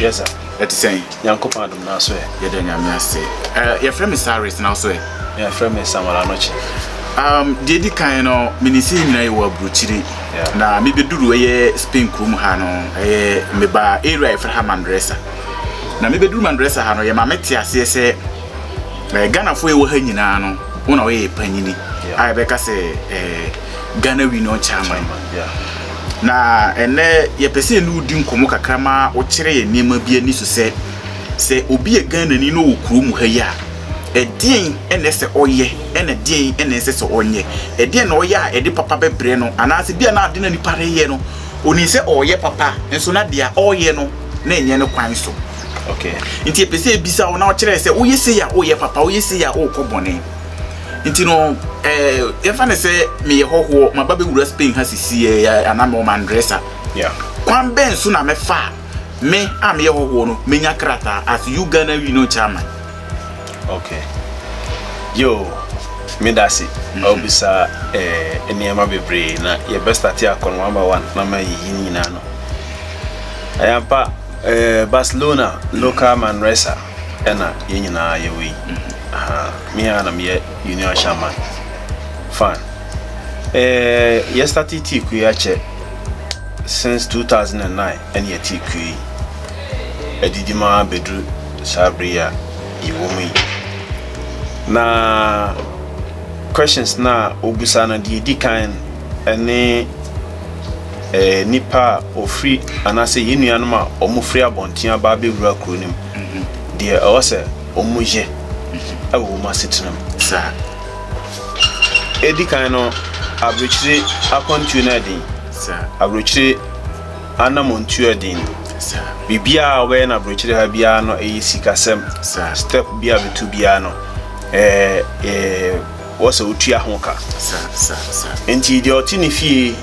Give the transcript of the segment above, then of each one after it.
Yes, sir. Ɛte sɛn? Nyankopɔn adom na so ɛ. Yɛda Nyame ase. Eh, yɛfrɛ me Cyrus na so ɛ. Yɛfrɛ me Samuel Anokye. Um, deɛ di kan no, mene sɛ nyina yɛ wɔ aburokyiri. Na mebɛduru ɛyɛ Spain kurom ha no, ɛyɛ meba area yɛfrɛ ha Mandresa. Na mebɛduru Mandresa ha no, yɛma mete aseɛ sɛ Eh, Ghanafoɔ yɛwɔ ha nyinaa no wo na woyɛ panyini a yɛbɛka sɛ eh, Ghana Union Chairman na ɛnɛ yɛpɛ sɛ ɛne wodi nkɔmmɔ kakra ma wokyerɛ yɛ nneɛma bi ani so sɛ sɛ obi yɛ Ghanani na ɔwɔ kuro mu ha yi a ɛdeɛn ɛna ɛsɛ ɔyɛ ɛna ɛdeɛn ɛna ɛsɛ sɛ ɔnyɛ ɛdeɛn na ɔyɛ a ɛde papa bɛbrɛ no anaasɛ bi a na ade na nipa reyɛ no onim sɛ ɔreyɛ papa nso na deɛ ɔreyɛ no na ɛnyɛ no kwan so Okay. Nti epɛ sɛ ebisa wo na ɔkyerɛ sɛ woyɛ sei a woyɛ papa, woyɛ sei a wokɔ bɔne. Nti no, eh, yɛmfa ne sɛ meyɛ hɔhoɔ, maba bɛwura Spain ha sisi eh, eh, anaa mewɔ Mandresa. Yeah. Kwan bɛn so na mɛfa a me a meyɛ hɔhoɔ no menya krataa as you Ghana wi no chairman? Okay. Yo, me da se. Mm-hmm. Obisa eh nneɛma bebree na yɛbɛstate akɔ no one by one na ma yiyi ne nyinaa no. Ayampa Ɛyɛ Barcelona local Manresa ɛna yɛn nyinaa yɛwɔ yi. Me a na meyɛ Union Shaman fan. Yɛ starte tii kuo yi akyɛ since 2009 ɛne yɛte kuo yi. Adidi ma bɛduru saa bere yi a yɛwɔ mu yi. Na questions no a wɔbusa no deɛ ɛdi kan ɛne Nnipa a wɔfiri anaasɛ yɛn nuanom a wɔfiri abɔnten aba abɛwura kuro no mu, deɛ ɛwɔ sɛ wɔyɛ wɔ wɔn asetena mu. Saa. Ɛdi kan no, aburokyire akwantuo no ɛden. Saa. Aburokyire anamɔntuo ɛden. Saa. Biribiara a wɔbɛyɛ no aburokyire ha biara no ɛyɛ sikasɛm. Saa. Step bi a bɛtu biara no ɛɛ ɛɛ wɔ sɛ otua ho ka. Enti deɛ ɔte ne fie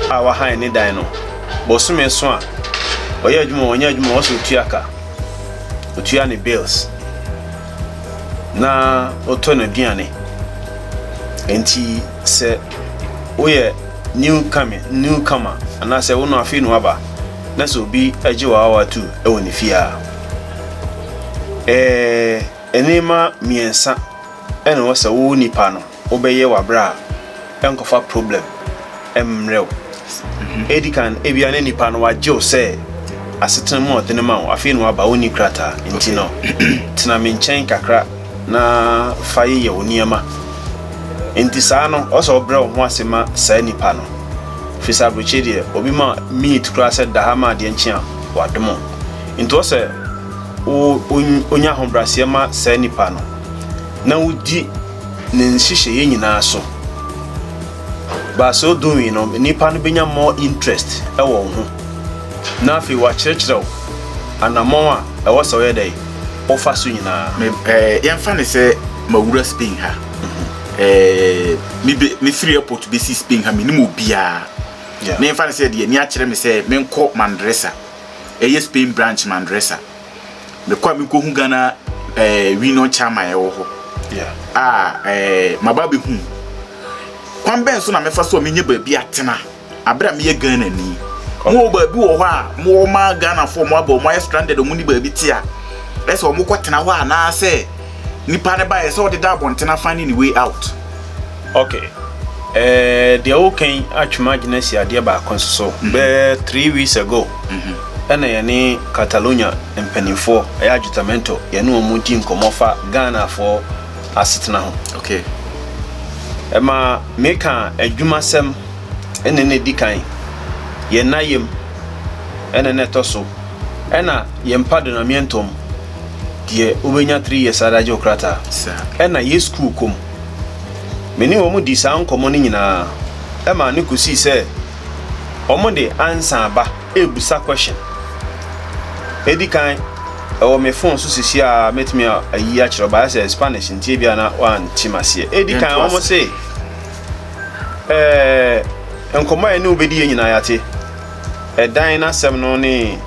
a wahan ne dan no, bosome so a, ɔyɛ adwuma ɔnyɛ adwuma wɔ sɛ otua ka, otua ne bills na ɔtɔ n'aduane. Enti sɛ woyɛ new coming new comer anaasɛ wo no afei na waba na sɛ obi agye wɔ awa tu wɔ ne fie a, ɛɛ nneɛma mmiɛnsa. Ɛna wɔ sɛ wo nipa no wo bɛ yɛ w'abrɛ a ɛnkɔ fa problem ɛmmerɛ wo. Edi kan ebia na nipa no w'agye wo sɛ asetena mu a ɔde no ma wo afei na w'aba wonni krataa nti no tena me nkyɛn kakra na fa yeyɛ wo nneɛma nti saa no ɔwɔ sɛ wo brɛ wo ho ase ma saa nipa no firi sɛ abrokyire deɛ obi ma minute koraa sɛ da ha ma adeɛ nkye a w'adom wo nti ɔwɔ sɛ wo onya ahobraseɛ ma saa nipa no. na wodi ne nhyehyɛeɛ nyinaa so. But sɛ ɔdɔ wi no, nnipa no bɛnya more interest wɔ wo ho. Na afei wakyerɛkyerɛ wo anammɔn a ɛwɔ sɛ ɔyɛ dɛ ɔfa so nyinaa. Me ɛɛ yɛnfa ne sɛ mawura Spain ha. Ɛɛ me be me firi airport bɛsi Spain ha menim obiara. Yeah. Ne yɛnfa ne sɛ deɛ ni akyerɛ me sɛ menkɔ Mandresa. Ɛyɛ Spain branch Mandresa. Mekɔ a mekohu Ghana eh, Union Chama ɛwɔ hɔ a eh, maba bɛhu kwan bɛn so na mefa so a menyɛ baabi atena abere a meyɛ Ghana ni mowɔ baabi wɔ hɔ a mowɔ ma Ghanafoɔ mo aba ɔmo ayɛ stranded ɔmo ni baabi te a ɛsɛ ɔmo kɔ tena hɔ anaasɛ nipa ne ba yɛ sɛ ɔde da abɔntena finding the way out Ok ɛɛ deɛ woka yi atwem adwene asi adeɛ baako nso so. Mm-hmm. Bɛɛ three weeks ago mm-hmm. ɛna yɛne Catalonia mpanimfoɔ ɛyɛ Ajutamento yɛne wɔn di nkɔmmɔ fa Ghanafoɔ asetena ho. Ok. Ɛma meka adwumasɛm ɛna na ɛdi kan yɛn na yam ɛna na ɛtɔ so ɛna yɛn mpa donamientom deɛ wobɛnya three years adagye wo krataa ɛna yɛ school kom. Me ne wɔn dii saa nkɔmmɔ no nyinaa ɛmaa no kosii sɛ wɔn de ansa aba ɛɛbusa question. Ɛdi kan ɛwɔ me phone so sisi a mɛtumi ayi akyerɛ ɔba ayɛ sɛ Spanish nti ebia na wɔante maseɛ. Ɛdi kan wɔn se ɛɛ nkɔmmɔ a ɛne wobɛdi yɛ nyinaa yɛate. Ɛdan no asɛm no ne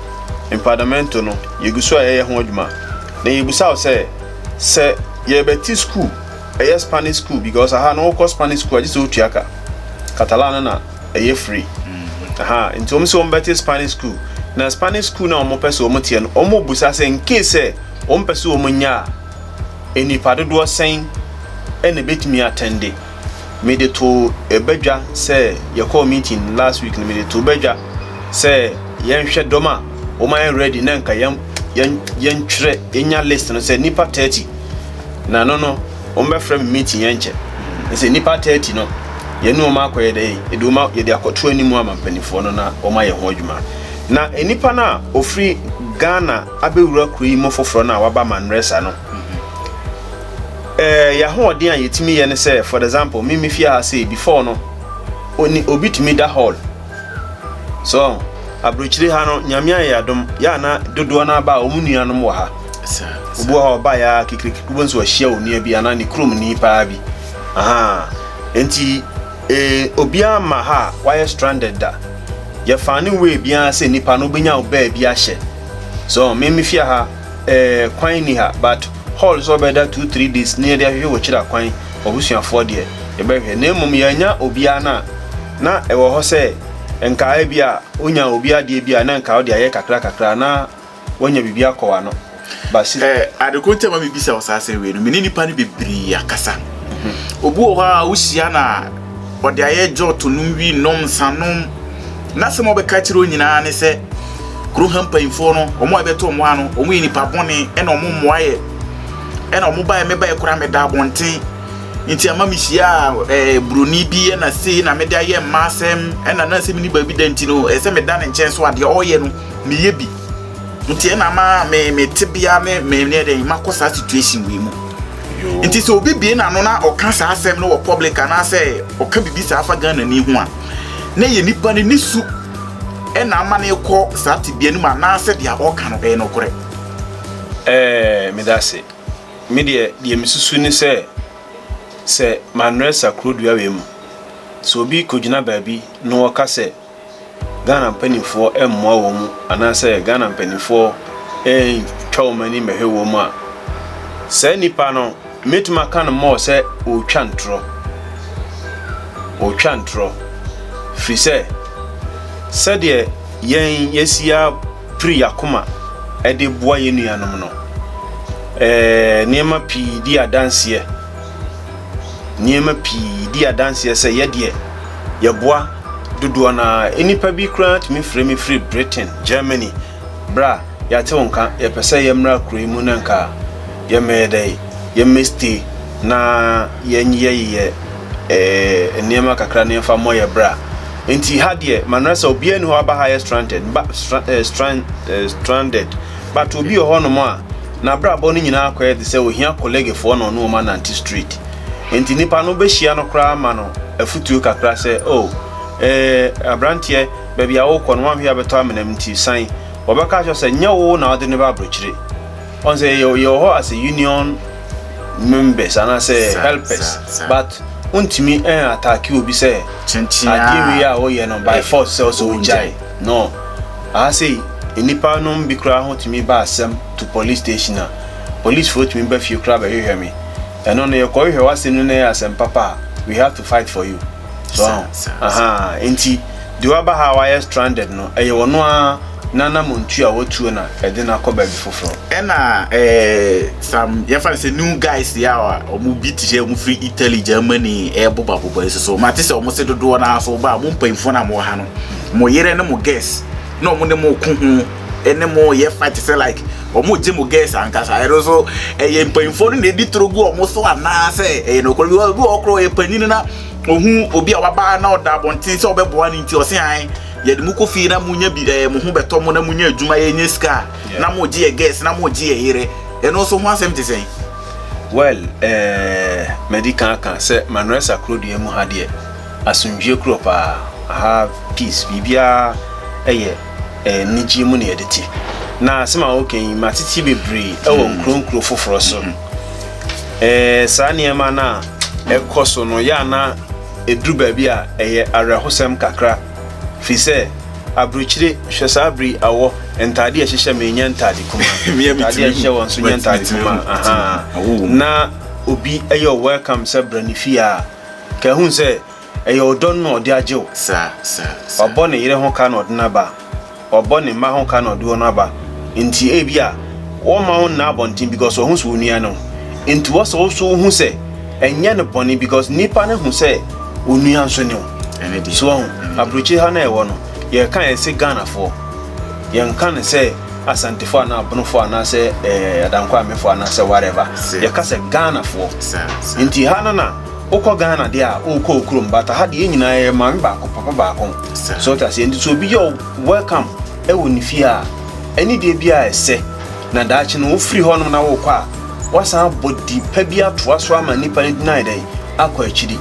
empadamento no yɛgu so a yɛyɛ ho adwuma na yɛbusa wo sɛ sɛ yɛrebɛte sukuu, ɛyɛ Spanish sukuu because aha no wokɔ Spanish sukuu a gye sɛ wotua ka. Catalan no na ɛyɛ free. Aha, nti wɔn sɛ wɔbɛte Spanish sukuu. Na Spanish sukuu no a wɔpɛ sɛ wɔteɛ no, wɔbisa sɛ in case sɛ wɔpɛ sɛ wɔnya a, nnipa dodoɔ sɛn na ɛbɛtumi atɛnde. mede too ba dwa sɛ yɛkɔɔ meeting last week no mede too ba dwa sɛ yɛnhwɛ dɔm a wɔayɛ ready na nka yɛn yɛn yɛntwerɛ yɛnya list no sɛ nipa thirty na no no wɔbɛfrɛ me meeting yɛnkyɛ sɛ nipa thirty no yɛne wɔn akɔyɛ dɛ yɛde wɔn yɛde akɔto anim ama mpanimfoɔ no na wɔn ayɛ ho adwuma na nipa no a ofiri Ghana abɛwura kuro yi mu foforɔ no a waba Manresa no. eh, yɛ ahoɔden a yɛtumi yɛ ne sɛ, for example, me me fie ha sɛ before no, oni obi tumi da hall. So, aburokyire ha no, nyame ayɛ adom, yɛ ana dodoɔ no aba a wɔn nuanom wɔ ha. Obi wɔ hɔ a ɔba yɛ a kekireke, wobɛhu sɛ wahyia onua bi anaa ne kurom ni paa bi. Aha. Nti, eh, obiara ma ha a wayɛ stranded da. Yɛfa ne wei biara sɛ nipa no wobɛnya wo baabi ahyɛ. So, me me fie ha, Ɛɛ kwan nni ha but hall sɛ ɔbɛda two three days ne yɛde ahwehwɛ wɔ kyira kwan ɔbusuafoɔ deɛ yɛbɛhwɛ na mmom yɛannya obiara no a na ɛwɔ hɔ sɛ nka ebi a wonya obi adeɛ bi a na nka wode ayɛ kakra kakra na woanya biribi akɔ w'ano but si. Ɛɛ ade koro nti a ma mebisa wo saa asɛm wei no me ne nnipa no bebree akasa obi wɔ hɔ a wohyia no a. ɔde ayɛ gyɔɔto nom wi nom nsanom n'asɛm a ɔbɛka kyerɛ wɔn nyinaa ne sɛ kuro ha mpanyinfoɔ no wɔn a ɛbɛtɔ wɔn ha no wɔn yɛ nipa bɔne ɛna wɔn mmoa yɛ ɛna wɔn baeɛ me baeɛ koraa meda abɔnten nti ama me hyia ɛɛ buroni bi ɛna sei na mede ayɛ mma asɛm ɛna na asɛm ni baabi da nti no ɛsɛ meda ne nkyɛn so adeɛ ɔyɛ no meyɛ bi nti ɛna ma me me tebea ne me ne dɛn makɔ saa situation wei mu nti sɛ obi bie n'ano na ɔka saa asɛm no wɔ public anaasɛ ɔka biribi saa fa ghana ni ho a na yɛ nipa no ne su ɛna ama no kɔ saa tebea no mu anaasɛ deɛ ɔka no ɛyɛ nokorɛ ɛɛ meda ase me deɛ deɛ mesusu ne sɛ sɛ manuel sakrodua wei mu sɛ obi kɔgyina baabi na ɔka sɛ Ghana mpanimfoɔ mmoa wɔn anaasɛ Ghana mpanimfoɔ ntwa wɔn ani mmɛhwɛ wɔn a, saa nipa no mɛtumi aka no mɔɔ sɛ ɔretwa ntorɔ. Ɔretwa ntorɔ. Firi sɛ, sɛdeɛ yɛn yɛsi apiri akoma de boa yɛn nuanom no, ɛɛ nneɛma pii di adanseɛ. Nneɛma pii di adanseɛ sɛ yɛdeɛ yɛboa dodoɔ no ara. Nnipa bi koraa tumi frɛ me firi Britain, Germany, bra yɛate wo nka, yɛpɛ sɛ yɛmmra kuro yi mu na nka yɛmmɛyɛ dɛ, yɛmmɛ stay na yɛnyeyɛyeyɛ nneɛma kakra na yɛmfa mmɔ yɛn bra. Nti ha deɛ, Manresa, obiara nni hɔ aba ha yɛ stranded, ba, stra, eh, strand, eh, stranded. But obi wɔ hɔnom a n'abrabɔ no nyinaa akɔyɛ te sɛ ohia kɔlɛgefoɔ na ɔne wɔn anante street. Enti nnipa no bɛhyia no koraa ma no afutuo kakra sɛ, Oh, ee, abranteɛ, baabi a worekɔ no woanhwɛ abɛtɔ amena mu nti san. Wɔbɛka akyerɛ wo sɛ nyɛ wo na wode no ba abrokyire. Ɔn sɛ yɛ, yɛwɔ hɔ as a union members anaasɛ helpers but wontumi ɛn attack obi sɛ adeɛ wei a woyɛ no by force sɛ ɔsɛ ogyae. No, aha sei, nnipa nom bi koraa ho tumi ba asɛm to police station a, police foɔ tumi ba fie koraa bɛhwehwɛ me. Ɛno no, yɛkɔ hwehwɛ w'asɛm no na ɛyɛ asɛm papa a, we have to fight for you. So aho? Ahaa, enti deɛ waba ha a wayɛ stranded no, ɛyɛ ɔno ara n'anamontuo a watuo na ɛde no akɔ baabi foforɔ. Ɛna eh, some, yɛmfa no sɛ new guys yi a wɔn bi te sɛ wɔn firi Italy, Germany, ɛrebobaboba yi nso so, mate sɛ wɔn se dodoɔ no ara nso wɔba a, mo mpanyinfoɔ no a mowɔ ha no, mo yere ne mo girls na wɔn ne mo ko ho ne mo yɛ fight sɛ like wɔn gye mo girls ankasa ɛno nso ɛyɛ mpanyinfoɔ no na edi toro gu wɔn so anaasɛ ɛyɛ no koro bi wɔ bi wɔ koro yɛ panyin na ohun obi a wabaa na ɔda abɔnten sɛ ɔbɛboa ne nti ɔse an yɛde mo kɔ fie na mo nya bi ɛɛ mo ho bɛtɔ mo na mo nya adwuma yɛ nya sika na mo gye yɛ girls na mo gye yɛ yere ɛno nso ho asɛm te sɛn. well ɛɛ mɛdi kan aka sɛ manresa kuro deɛ mu ha deɛ. Asomdwie kuro paa aha peace biribiara yɛ anigyeɛ mu na yɛde te na asɛm a woka yi matete bebree ɛwɔ mm. nkuro nkuro foforɔ so ɛɛ saa nneɛma no a ɛkɔ so no yɛ ana ɛduru baabi a ɛyɛ awerɛhosɛm kakra firi sɛ aburokyire hwɛ saa bere awɔ ntaade a ɛhyehyɛ ma ɛnya ntaade kuma ntaade a ɛhyehyɛ wɔn nso nya ntaade kuma na obi ɛyɛ welcome sɛ brɛ ne fie a Ka ehu sɛ ɛyɛ ɔdɔ no na ɔde agye wo. Saa, saa, saa. Ɔbɔ ne yere ho ka na ɔde no aba. Ɔbɔ ne mma ho ka na ɔde wɔn aba. Enti ebia ɔmma wo nna abɔnten because ɔho sɛ wo nua no. Enti wɔ sɛ wo nso wo hu sɛ ɛnyɛ no bɔne because nipa no hu sɛ wo nua nso ne wo. Ɛne deɛ. So wahu? Ɛne deɛ. Aburokyire ha na yɛwɔ no, yɛka a yɛse Ghanafoɔ. Yɛnka no sɛ. Asantefoɔ anaa Abonofoɔ anaasɛ ɛɛ eh, Adankwaamefoɔ anaasɛ whatever. Yɛka sɛ Ghanafoɔ. Nti ha no na wokɔ Ghana deɛ a wokɔ wo kurom but ha deɛ yɛn nyinaa yɛ maame baako papa baako. So wote aseɛ nti so obi yɛ welcome ɛwɔ ne fie a ɛne deɛ bi a ɛsɛ na daakye no wofiri hɔ nom na wokɔ a wasan abɔ di pa bi atoa so ama nipa no gyina dɛn akɔ akyiri.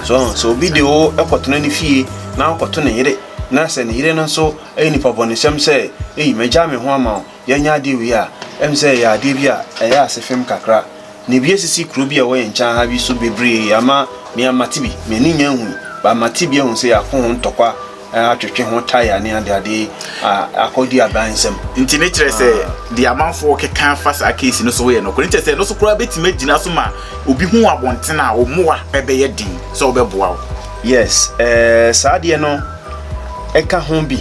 So so obi de wo ɛkɔtena ne fie na akɔto ne yere na sɛ ne yere no nso Ɛyɛ nipabɔnesɛm sɛ, Ei, magyaa me ho ama wo. Yɛnyɛ adeɛ wei a, ɛyɛ me sɛ yɛyɛ adeɛ bi a ɛyɛ ase fem kakra. Na bi asisi kuro bi a ɛwɔ yɛn nkyɛn ha bi so bebree ama me amate bi. M'ani nnya nhui, but mate bi ahu sɛ yɛako ho ntɔkwa, atwetwe ho taya ne adeade a akɔ di aban nsam. Nti ne kyerɛ sɛ deɛ amanfoɔ keka fa saa case no so yɛ nokorɛ. Ne kyerɛ sɛ ɛno so koraa bɛtumi agyina so ma obi hu abɔntene a wo mmoa bɛyɛ den sɛ wɔbɛboa wo. Yes, eh, saa adeɛ no. ka ho bi,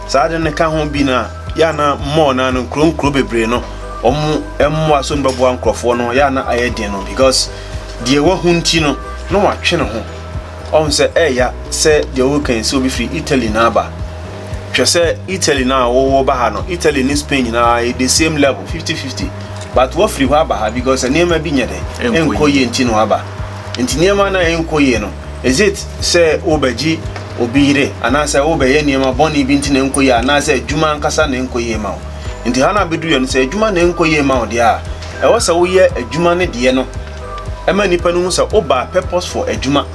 saa ade no ka ho bi no a, yɛ a na mall no ano, nkuro nkuro bebree no, wɔn mmoa so no bɛboa nkurɔfoɔ no, yɛ a na ayɛ den no because deɛ wahu nti no, na watwe ne ho. Ɔhu sɛ ɛɛya sɛ deɛ wɔka yi sɛ obi firi Italy na aba. Hwɛ sɛ Italy no a wɔwɔ ba ha no, Italy ne Spain nyinaa yɛ the same level, fifty fifty. But wafiri hɔ aba ha because nneɛma bi nyɛ dɛ, ɛnkɔ yie nti na waba. Ntsi nneɛma no a ennkɔ yie no, is it sɛ worebɛgye obi yere anaasɛ worebɛyɛ nneɛma bɔne bi nti na ennkɔ yie anaasɛ adwuma ankasa na ennkɔ yie ma wo? Ntsi ha no abedu yɛ no, sɛ adwuma na ennkɔ yie ma wo deɛ a, ɛwɔ sɛ woyɛ adwuma no deɛ no ma nnipa no hu sɛ wobaa purposeful adwuma.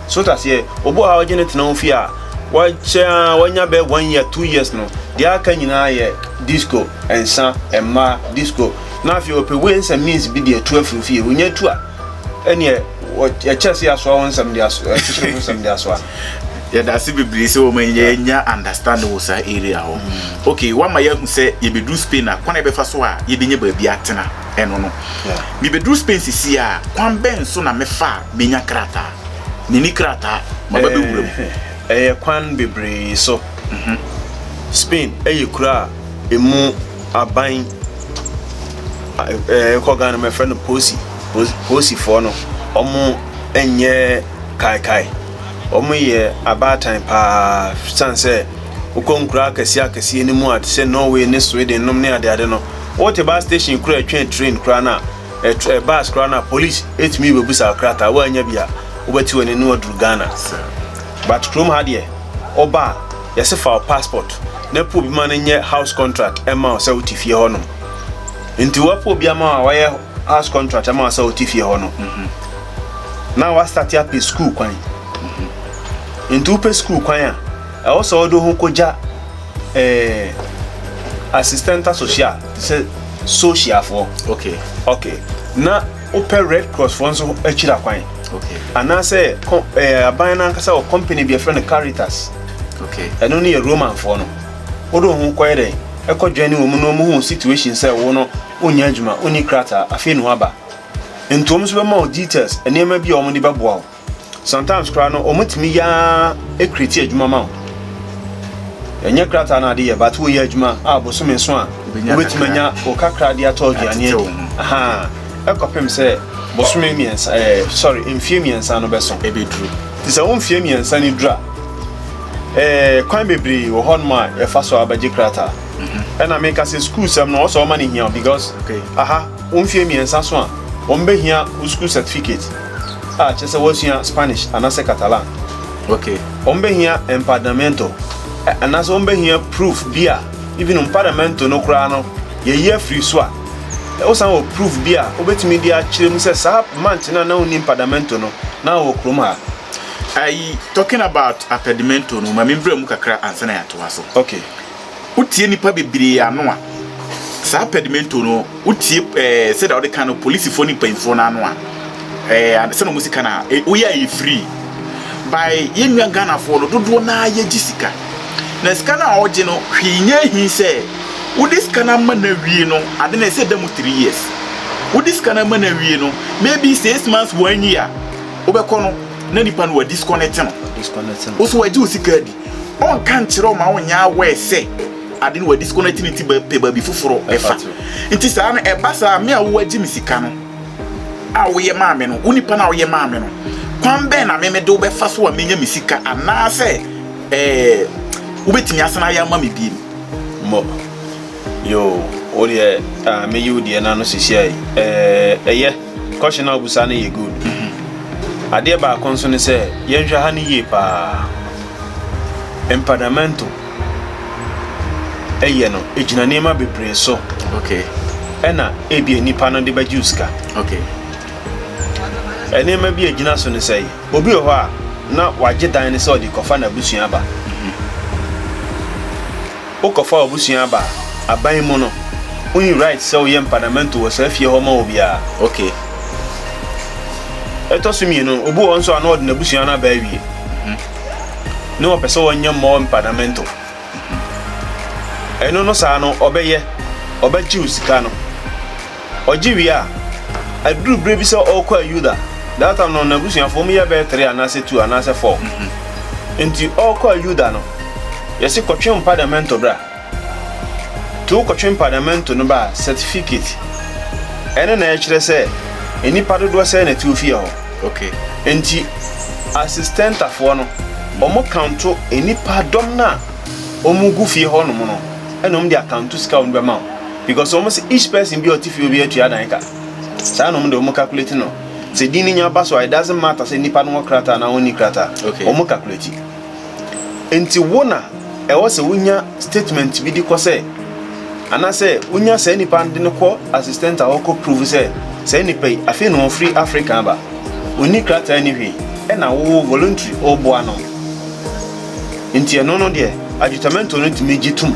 So wote aseɛ? Obi wɔ ha a wogye no tena wo fie a, wakyɛ ara wanya bɛyɛ one year, two years no, deɛ aka nyinaa yɛ disco, nsa, mmaa, disco, na afei ɔpɛ ways and means bi de atu afiri wo fie. Onnya tu a, Ɛneɛ yɛkyɛ sɛ yɛasoa wo nsɛm de asoa kyekyere wo nsɛm de asoa no. yɛda ase bebree sɛ wɔn nyɛ yɛnya understanding wɔ saa area hɔ mm. okay wama yɛahu sɛ yɛbɛduru spain a kwan a yɛbɛfa so a yɛbɛnya baabi atena ɛno no mebɛduru spain sisi a kwan bɛn so na mefa a menya krataa meni krataa maba bɛwura mu eh, eh, ɛyɛ kwan bebree so mhm. spain ɛyɛ kura a ɛmu aban ɛɛ kɔ Ghana mɛ fɛ no posi posifoɔ no ɔmo nyɛ kaekae ɔmo yɛ abaatan paa san sɛ wokɔ nkura akɛseɛ akɛseɛ no mu a te sɛ Norway ne Sweden nom ne adeade no wote baa station kura ɛtwɛn train kura no a ɛɛ bus kura no a police etumi bebusa ɔkrataa woanya bi a wobɛte wɔn ani na waduru Ghana but kurom ha deɛ ɔba a. Yɛse fa wo passport na po obi ma no nyɛ house contract ma wo sɛ wo te fie hɔ nom. Nti wɔpo obi ama wo a wayɛ house contract ama wo sɛ wo te fie hɔ no, na wa start apɛ school kwan. Nti wo pɛ school kwan a, ɛwɔ sɛ ɔde ho kogya eh, assistenta social, te sɛ sociafoɔ. Okay. Okay. Na Wopɛ Red Cross foɔ nso akyiri akwan anaasɛ aban no ankasa wɔ company bi ɛfrɛ no Caritas ɛno no yɛ Roman foɔ no wode wo ho kɔyɛ dɛn ɛkɔ dwane wɔ mu na ɔmu hu situation sɛ wo no wonya adwuma wonni krataa afei na waba nti ɔmu nso bɛma wo details nneɛma bi a ɔmu de bɛboa wo Sometimes koraa no ɔmo tumi yɛ ara ekreti adwuma ma wo. Ɛnyɛ krataa na ade yɛ but woyɛ adwuma a bosome nso a wobɛtumi anya wo kakra de atɔ aduane adi. Ahaa ɛkɔpem sɛ bosome mmiɛnsa ɛɛ eh, sorry mfie mmiɛnsa no bɛso ɛbɛduru. Te sɛ wo mfie mmiɛnsa no dura ɛɛ kwan bebree wɔ hɔnom a yɛfa so abɛgye krataa. Mhm. Ɛna meka sɛ sukuu sɛm no ɔsɛ ɔma no hia because aha wo mfie mmiɛnsa so a wɔn bɛhia wo sukuu certificate. a kyerɛ sɛ wɔasua Spanish anaasɛ Catalan. Wɔbɛhia empadamento, anaasɛ wɔbɛhia proof bi a even empadamento no koraa no yɛayi afiri so a wosan wɔ proof bi a wobɛtumi de akyerɛ mu sɛ saa month no a na wonni empadamento no na wɔ kurom ha. Ayi, talking about apedimento no, ma membrɛ mu kakra ansa na yɛatoa so. Okay. Wotie nnipa bebree ano a, saa pɛdimento no, wotie ɛɛ eh, sɛdeɛ wɔde ka no, polisifoɔ ne mpanyinfoɔ no ano a, ɛɛ eh, sɛdeɛ wɔn si ka no a, eh, woyɛ ayɛ firii. By yɛn nua Ghanafoɔ no, dodoɔ no ara yɛgye sika. Na sika no a wɔgye no, hwee nyɛ ahi sɛ wode sika no ama no awie no, ade no ɛsɛ da mu three years. Wode sika no ama no awie no, maybe six months, one year, wobɛkɔ no, na nipa no wadi disconnect no. Disconnect no. Wo so wagye wo sika adi. ɔnka nkyerɛ wo ma wonyɛ aware sɛ ade no wadisconnect ne ti pɛ baabi foforo ɛfa nti saa no ɛba saa me a wowagye me sika no a woyɛ maa me no wo nipa no a woyɛ maa me no kwan bɛn na meme de wobɛfa so a menya me sika anaasɛ ɛɛ wobɛtumi asena ayɛ ama me biem mmɔ yo wodeɛ meyi wo deɛ no ano sisiai ɛyɛ Question a obusa no yɛ good. Adeɛ baako nso ne sɛ yɛnhwɛ ha no yie paa. Empadamento ɛyɛ no egyina nneɛma bebree so. Okay. Ɛna ebia nipa no de bɛgye osika. Okay. Nneɛma bi a egyina so ne sɛ obi wɔ hɔ a na wagye dan no sɛ ɔde kɔfa n'abusua aba. Mm-hmm. Wokɔfa w'abusua aba aban mu no, wonnyi right sɛ woyɛ mpanamento wɔ saa fie hɔ ma obiara. Ok. Ɛtɔ so mmienu no, obi wɔ hɔ nso a na ɔde n'abusua no aba awie, na ɔpɛ sɛ ɔnyɛ more mpanamento. Ɛno no saa no, ɔbɛyɛ, ɔbɛgye wo sika no. Ɔgye wie a, ɛduru berɛ bi sɛ ɔrekɔ a Yuda, that time no n'abusuafoɔ wɔn mu yɛ bɛyɛ three anaasɛ two anaasɛ four, nti ɔrekɔ a Yuda no, yɛse kɔtwe mpadamento bra, nti wokɔtwe mpadamento no ba a, certificate, ɛno na ɛkyerɛ sɛ nnipa dodoɔ sɛn na ɛte wo fie hɔ. Okay. Nti asistɛntafoɔ no, wɔn kanto nnipa dɔm no a wɔn gu fie hɔ nom no, ɛna wɔn de akanto sika a wɔn de bɛma wo. because wɔn sɛ each person bi a ɔte fie obi atua dan ka saa na wɔn de wɔn calculate no sɛ din no nya ba so a it doesn't matter sɛ nipa no wɔ krataa na ɔnni krataa okay. wɔn calculate nti wo na ɛwɔ sɛ wonya statement bi di kɔ sɛ anaasɛ wonya saa nipa no de no kɔ assistant a wɔkɔ prove sɛ saa nipa yi afei na wɔfiri Africa aba ɔnni krataa ni hwee ɛna wo voluntary ɔboa no nti ɛno no deɛ adjutamento no tumi gye tum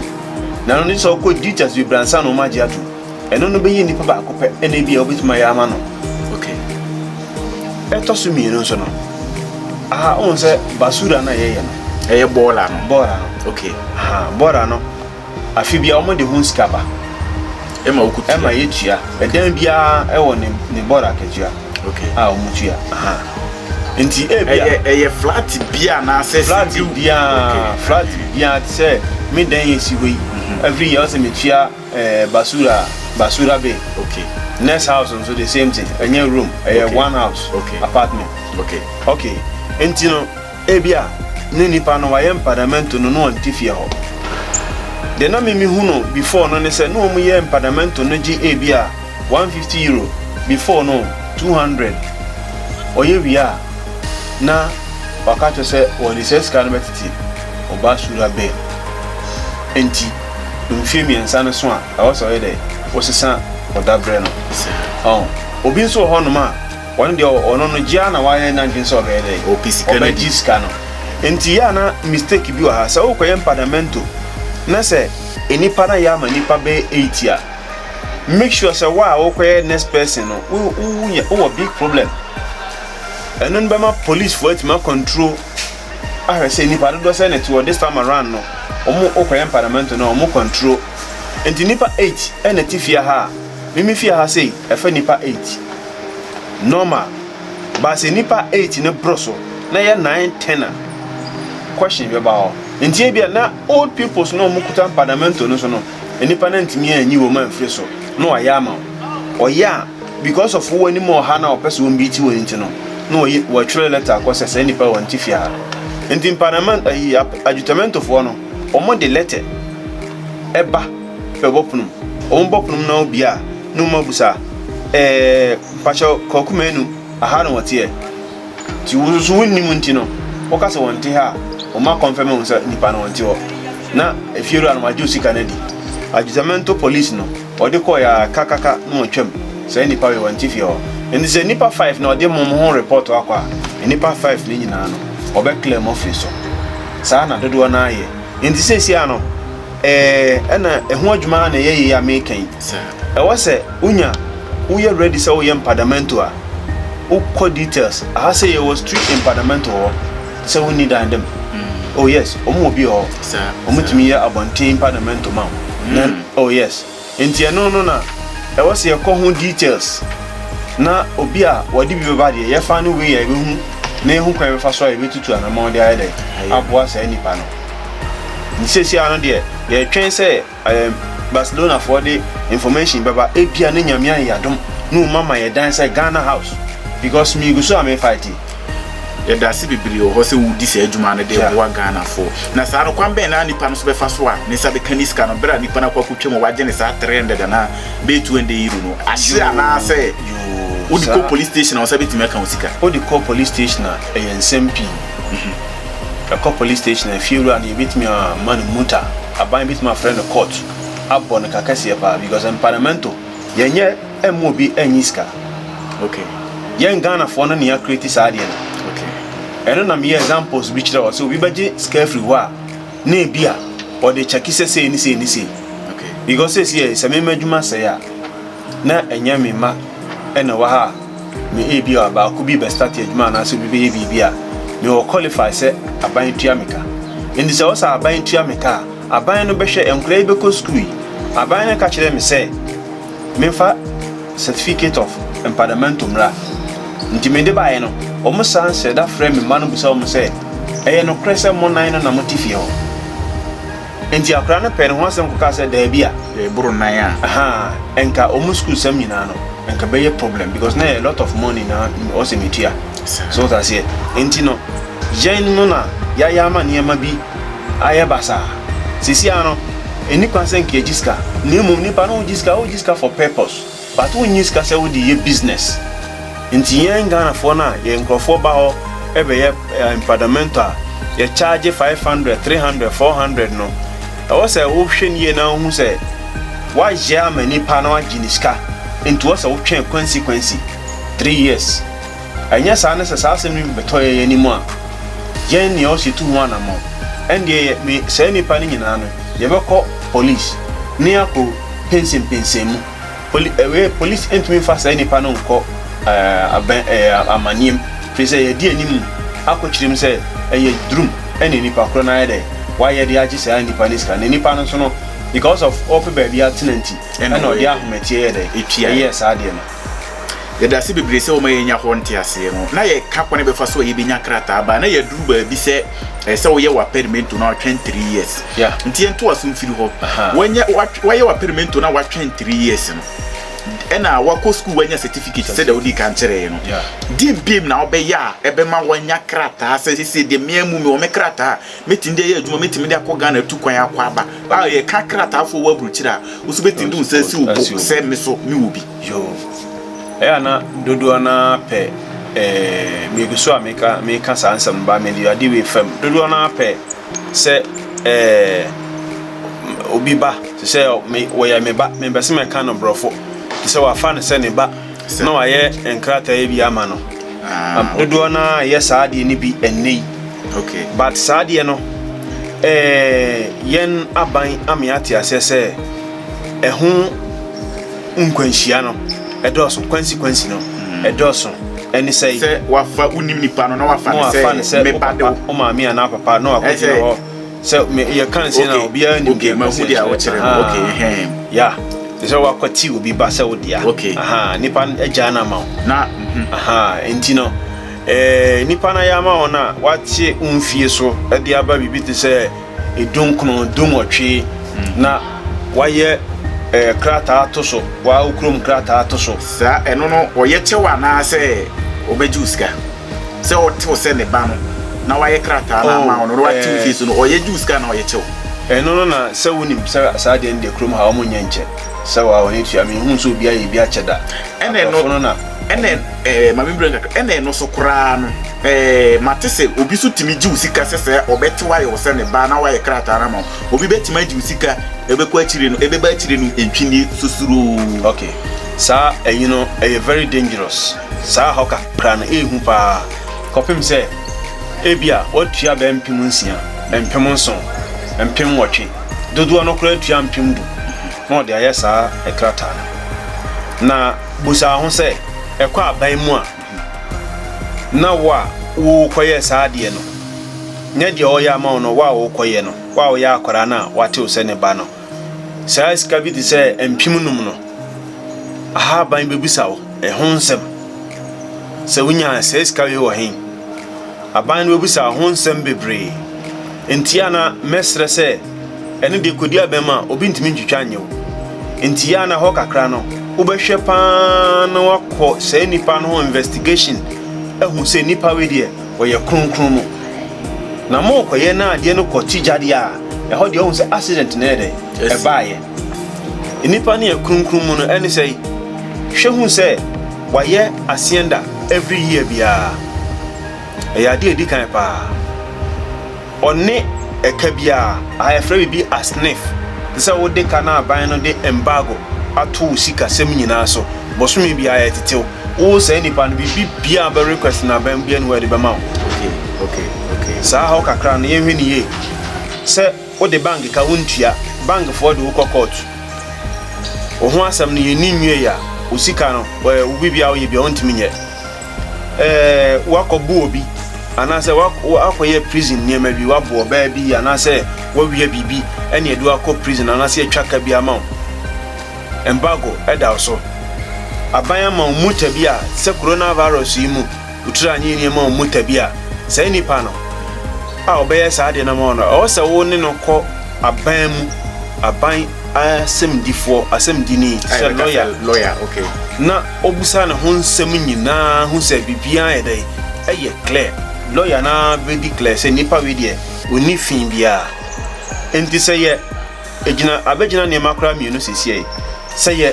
Na no de sɛ ɔkɔ Dutchers bebree ansa na ɔmo agye atom. Ɛno no bɛyɛ nipa baako pɛ ɛna ebi a wobɛtumi ayɛ ama no. Okay. Ɛtɔ so mmienu nso no, aha ohun sɛ basura no a yɛyɛ no. Ɛyɛ bɔɔla no. Bɔɔla no. Okay. Ha bɔɔla no. Afi bia ɔmo de ho sika ba. Ɛma wokutua. Ɛma yɛtua. Ɛdan biara ɛwɔ ne ne bɔɔla akatua. Okay. A wɔn tua. Aha. Nti ebi a. Ɛyɛ ɛyɛ flat bia anaasɛ. Flat bia flat bia te sɛ me dan yɛ si hɔ yi. Mhm. Every year ɔsɛ me tua ɛɛ eh, basura basura bɛ. Okay. Next house nso the same thing. Ɛnyɛ room ɛyɛ one house. Okay. Apartment. Okay. Okay. Nti no. Ebia na nipa no wayɛ mpadamɛnto no na ɔnte fie hɔ. Deɛ na me mehu no before no ne sɛ na wɔn yɛ mpadamɛnto no gye ebia one hundred and fifty euro before no two hundred ɔyɛ wie a na waka akyerɛ sɛ wɔde saa sika no bɛtete ɔbaa sura bɛn mu nti mfie mmiɛnsa no so a ɛwɔ sɛ ɔyɛ dɛ wosesa ɔda berɛ no ɔho obi nso wɔ hɔ nom a Ɔno deɛ ɔno no gye ara na wayɛ n'adwene sɛ ɔbɛyɛ dɛ ɔbɛgye sika no nti yɛ a na mistake bi wɔ ha sɛ wokɔyɛ mpadamento na sɛ nnipa no ayɛ ama nnipa bɛyɛ eight a make sure sɛ wo a wokɔyɛ next person no wo woyɛ wowɔ big problem ɛno no bɛma policefoɔ atumi akɔntro ahwɛ sɛ nnipa dodoɔ sɛ ne te wɔ this time around no wɔn wokɔyɛ mpadamento no wɔn kɔntro nti nnipa eight ɛna ti fie ha a mimi fie ha sei ɛfɛ nnipa eight. Normal but sɛ nipa age no boro so na ɛyɛ nine ten a question bɛba hɔ nti ebia na old peoples na wɔn kuta mpadamento no so no nipa na ntumi anyi wɔn amfiri so na wɔayɛ ama wɔn ɔyɛ a because of wɔn anim ɔha na wɔpɛ sɛ wɔn bi ti wɔn nti no na wɔyɛ wɔatwerɛ letter akɔ sɛ sɛ nipa wɔn ti fi ha nti mpadamento ayi adwutamentofoɔ no wɔn de letter ɛba bɛbɔ pono wɔn bɔ pono na obi a No mo abusa ɛɛ pakyɛ kwaku manu aha na wɔteɛ nti wo nso wo nnim nti no wo ka sɛ wɔn te ha a wɔn ma kɔnfɛm ehu sɛ nipa no wɔn te hɔ na efie wura no wɔn agye osika no adi adwusamento police no wɔde kɔɔ yɛ a ka ka ka na wɔn twɛm sɛ nipa wei wɔn te fie hɔ nti sɛ nipa five na wɔde mo mo ho report akɔ a nipa five no nyinaa no wɔbɛ clear mo afiri so saa na dodoɔ naa yɛ nti sɛ si a no. Ɛɛ, ɛna ɛho adwuma ara na ɛyɛ yei a mereka yi. Ɛwɔ sɛ wonya, woyɛ ready sɛ woyɛ mpadamento a, wokɔ details. Aha sɛ yɛwɔ street mpadamento wɔ hɔ, te sɛ wonni dan dɛm. Oh yes, wɔn wɔ bi wɔ hɔ, wɔtumi yɛ abɔnten mpadamento ma wo. Oh yes. Nti ɛno no na ɛwɔ sɛ yɛkɔ ho details na obi a wɔde bi bɛba deɛ yɛfa no wei a yɛbɛhu na yɛhu kwan yɛbɛfa so a yɛbɛtutu anamɔn de ayɛ dɛ aboa saa nipa no nti sɛsi ano deɛ yɛtwɛn sɛ um, Barcelona foɔ de information bɛba ebia ne nyame ayɛ yadom na ɔma ma yɛdan sɛ Ghana house because megu so a me fight Yɛda ase bebree wɔ hɔ sɛ wodi saa dwuma no de boa Ghanafo. Na saa no, kwan bɛn na nipa no nso bɛfa so a ne nsa bɛka ne sika no bere a nipa no akɔ akotwam a wagye ne saa 300 anaa bɛyɛ 200 euro no ahye anaasɛ wode kɔ police station a wo nsa betumi aka wo sika? Wode kɔ police station a, ɛyɛ nsɛm pii. Ɛkɔ police station a, fiewura no yebetumi ama no muta. Aban betumi afrɛ no court abɔ no ka kɛseɛ paa because empanamento. Yɛnyɛ Ɛmmu obi ɛnyi sika ok yɛn Ghana foɔ no na yɛ create saa adeɛ no ok ɛno na meyɛ examples bi kyerɛ wɔ sɛ obi bɛgye sika afiri hɔ a na ebi a ɔde kyɛke sɛ sei ne sei ne sei ok because sɛ si yɛ sɛ mema adwuma sɛe a na ɛnyɛ me ma ɛna wɔ ha a me ebi a baako bi bɛ start adwuma anaasɛ obi bɛyɛ biribi a mewɔ qualify sɛ aban tua me ka nti sɛ ɔsɛ aban tua me ka a aban no bɛhwɛ nkora yi bɛkɔ sukuu yi aban no ka kyerɛ me sɛ memfa certificate of empadamento mmra. Nti mede baeɛ no, wɔn san srɛ da frɛ me mma no bisa wɔn sɛ, Ɛyɛ nokorɛ sɛ mo nan no na mote fie hɔ? Nti akwadaa no pɛɛ ne ho asɛm kɔkaa sɛ, Daabi a. Ɛboro nan a. Ahaa, ɛnka wɔn sukuusɛm nyinaa no, ɛnka ɛbɛyɛ problem because na ɛyɛ a lot of money na ɔsɛ metua. So wote aseɛ? Nti no, yɛn no na yɛayɛ ama nneɛma bi. ayɛ basaa. Sisiaa no, enni kwan sɛ nka egye sika, na mmom nnipa no gye sika, wogye sika for purpose, but wonnye sika sɛ wode yɛ business. Nti yɛn Ghanafoɔ no a yɛn nkurɔfoɔ ba hɔ bɛyɛ empadamento a yɛ charge five hundred, three hundred, four hundred no, ɛwɔ sɛ wohwɛ no yie na wohu sɛ woayɛ ama nipa na wagye ne sika, nti ɛwɔ sɛ wotwɛn kwansi kwansi, three years. Anyɛ saa na sɛ saa asɛm no bi bɛtɔ yɛn anim a, yɛn nea ɔsɛ tu ho anammɔn. Ɛndeɛ yɛ me saa nnipa no nyinaa no, yɛbɛkɔ polis ne akɔ pensenpensen mu. Poli ɛɛ polis ntumi mfa saa nnipa no nkɔ ɛɛ abɛn ɛɛ amanneɛm, firi sɛ yɛadi anim akɔkyirim sɛ ɛyɛ durum na nnipa korɔ no ayɛ dɛ wayɛ de agye saa nnipa no sika. Na nnipa no nso no, because of ɔpɛ baabi atena nti, ɛna ɔde ahometeɛ yɛɛ dɛ? Ɛyɛɛ saa adeɛ no. Yɛda ase bebree sɛ wɔma yɛnya hɔ nteaseɛ no na yɛka kwan a yɛbɛfa so a yɛbɛnya krataa baa na yɛaduru baabi sɛ ɛsɛ sɛ woyɛ w'apɛrimento na watwɛn three years nti yɛntoa so mfiri hɔ wanyɛ wayɛ w'apɛrimento na watwɛn three years no ɛna wakɔ sukuu wanya certificate sɛdeɛ wodi kan kyerɛeɛ no deɛ mbiem na wobɛyɛ a ɛbɛma wanya krataa sɛ sɛsɛ deɛ mmea mu me wɔ me krataa Mɛtumi de ayɛ adwuma, mɛtumi de akɔ Ghana atu kwan akɔ aba. A yɛka krataafoɔ wɔ aburokyire a, wo nso bɛtumi de wo nsa asi wo bo sɛ me so mewɔ bi. Yoo. Ɛyɛ a na dodoɔ no ara pɛ eh, megu so a meka meka saa nsɛm no ba mede ade wei fam. Dodoɔ no ara pɛ sɛ eh, obi ba te sɛ me, wɔyɛ me ba, mempɛ sɛ mɛka no borɔfo te sɛ wafa no sɛ ne ba. na wɔayɛ nkrataa bi ama no. Ah, okay. Dodoɔ no ara yɛ saa adeɛ no bi ɛnnɛ yi. Okay. But saa adeɛ no eh, yɛn aban ame ate aseɛ sɛ ɛho nkwanhyia no ɛdɔɔso, consequence no mm. ɛdɔɔso. ɛne sɛ sɛ wafa wonim nipa no na wafa no sɛ meba de wo maame anaa papa na wakɔgyina hɔ sɛ me yɛ kan se na obiara nim deɛ ma hu deɛ wɔkyerɛ no okay hɛn ya te sɛ wakɔte obi ba sɛ wo dea okay aha nipa agya na ma wo na mhm. aha nti no eh, nipa na ya ma wo na wate mfie so de aba biribi te sɛ edunkono dunwɔtwe mm. na wayɛ eh, krataa to so waa okurom krataa to so saa ɛno no wɔyɛ kyɛw anaasɛ wɔbɛgye wo sika Sɛ ɔte wo sɛ ne ba no, na wayɛ krataa no ama wo no, na wate wo fie so no, ɔyɛ gye wo sika anaa ɔyɛ kyɛ wo? Ɛno no na sɛ wonim sɛ saa adeɛ no deɛ kurom ha wɔn nyɛ nkyɛ sɛ wa wɔn atua me nhuu sɛ obi ayɛ bi akyɛ da abrɔfo no na ɛna ɛno ɛɛ ma me brɛ nkakra ɛna ɛno so koraa no ɛɛ mate sɛ obi so tumi gye wo sika sɛ sɛ ɔbɛte wayɛ wo sɛ ne ba na wayɛ krataa no ama wo obi bɛtumi agye wo sika ɛbɛkɔ akyire no ɛbɛba akyire no ntwinnie susuroo. Okay saa ɛyi no ɛyɛ very dangerous saa hɔ ka. kra no yɛ hu paa kɔpem sɛ ebia woatua bɛyɛ mpem nsia, mpem nson, mpem nwɔtwe, dodoɔ no koraa tua mpem du na wɔde ayɛ saa krataa no. Na busa ho sɛ, ɛkɔ aban mu a na wo a worekɔyɛ saa adeɛ no nyɛ deɛ ɔreyɛ ama wo no, wo a worekɔyɛ no, wo a woyɛ akwadaa no a woate wo sɛ ne ba no, Saa sika bi te sɛ mpem nnum no, Ahaban bebisa wo ɛho nsɛm. Sɛ wunya saa sika wei wɔ he? Aban no bebisa wo ho nsɛm bebree. Enti a na mɛsrɛ sɛ, ɛno deɛ kodi abɛn mu a, obi ntumi ntwitwa nyɛ wo. Enti a na hɔ kakra no, wobɛhwɛ paa na woakɔ saa nipa no ho investigation ahu sɛ nipa wei deɛ, Wɔyɛ kronkron mo. Na mo kɔ yɛ na adeɛ no kɔ ti gyadeɛ a ɛhɔ deɛ ɔhu sɛ accident na ɛyɛ dɛ ɛbaayɛ. Nnipa no yɛ kronkron mo no ɛne sɛi? Hwɛ hu sɛ wayɛ asienda every year biara. Ɛyɛ adeɛ a ɛdi kan paa. Ɔne ɛka biara. Aha yɛfrɛ biribi asnif, te sɛ wode ka na aban no de embargo ato wo sika sɛm nyinaa so. Bosome biara yɛtetew wo saa nnipa no biribi biara a wobɛ request no aban mu biara nni hɔ a yɛde bɛma wo. Okay okay okay saa haw kakra no yɛnhwɛ no yie. Sɛ wode bank ka wontua, bank foɔ de wo kɔ court. Wo ho asɛm no yɛnni nwiei a, wo sika no, wo biribiara woyɛ biara wontumi nyɛ. woakɔbo obi anaasɛ woakɔyɛ prison nneɛma bi, woabo ɔbaa bi anaasɛ woawia biribi ɛne ɛde wakɔ prison anaasɛ yɛatwa ka bi ama wo. Embargo ɛda wo so. Aban ama wo muta bi a, te sɛ coronavirus yi mu, wo tiri anyɛ yie ama wo muta bi a, saa nipa no a ɔbɛyɛ saa adeɛ no ama wo no, ɛwɔ sɛ wo ne no kɔ aban mu, aban asɛmdifoɔ, asɛmdini, sɛ lawyer, na Ɔbisa ne ho nsɛm nyinaa hu sɛ biribiara ayɛ dɛn? Ɛyɛ clear. Lɔya no ara bɛ declare sɛ nipa wei deɛ ɔnni fi biara. Enti sɛ yɛ gyina abɛgyina nneɛma koraa mmienu seesei, sɛ yɛ